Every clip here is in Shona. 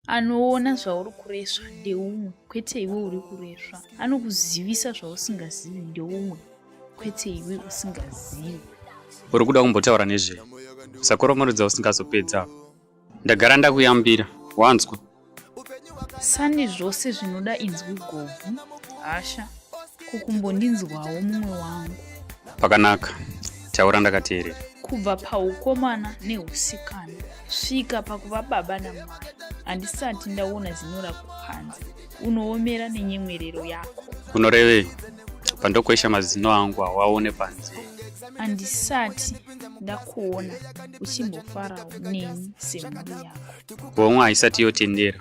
anoona zvauri kuresva ndeumwe kwete iwe uri kuresva anokuzivisa zvausingazivi ndeumwe kwete iwe usingazivi uri kuda kumbotaura nezve sakoromorudza usingazopedza ndagara ndakuyambira wanzwa sani zvose zvinoda inzwi gobvu hasha kukumbondinzwawo mumwe wangu pakanaka taura ndakateerera kubva paukomana neusikana kusvika pakuva baba namwana handisati ndaona zino rako panze unoomera nenyemwerero yako unorevei pandokwesha mazino angu hawaone panze handisati ndakuona uchimbofarawo neni semhuri yako homwe haisati yotendera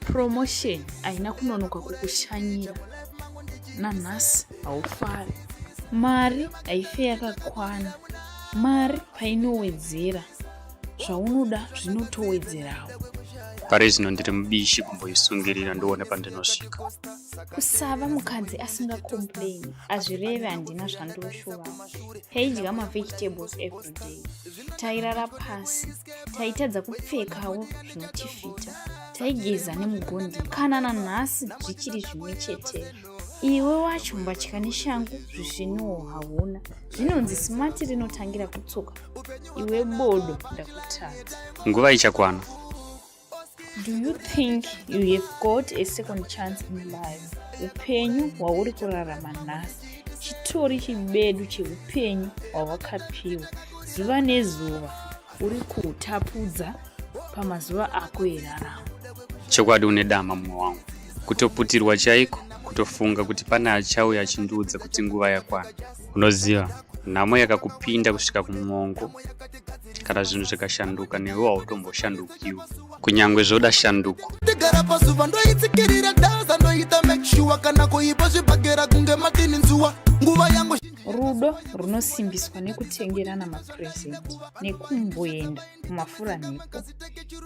promotion haina kunonoka kukushanyira nanhasi haufari mari haife yakakwana mari painowedzera zvaunoda zvinotowedzerawo pari zvino ndiri mubishi kumboisungirira ndione pandinosvika kusava mukadzi asingakomplaini hazvireve handina zvandoshuva taidya mavegetables everyday tairara pasi taitadza kupfekawo zvinotifita taigeza nemugondi kana nanhasi zvichiri zvimwe chetero iwe wacho mbatya neshangu zvisviniwo hauna zvinonzi simati rinotangira kutsoka iwe bodo ndakutadza nguva ichakwana Do you think you have got a second chance in life? Upenyu hwauri kurarama nhasi chitori chibedu cheupenyu hwawakapiwa. Zuva nezuva uri kutapudza pamazuva ako eraramo. Chokwadi une dama mumwe wangu, kutoputirwa chaiko, kutofunga kuti pane achauya achindiudza kuti nguva yakwana. Unoziva nhamo yakakupinda kusvika kumwongo kana zvinhu zvikashanduka newe hautomboshandukiwo kunyange zvoda shanduko ndigara pazuva ndoitsikirira danza ndoita make sure kana kuipa zvibhagera kunge matini nzuwa nguva yangu rudo runosimbiswa nekutengerana mapresent nekumboenda kumafuranhepo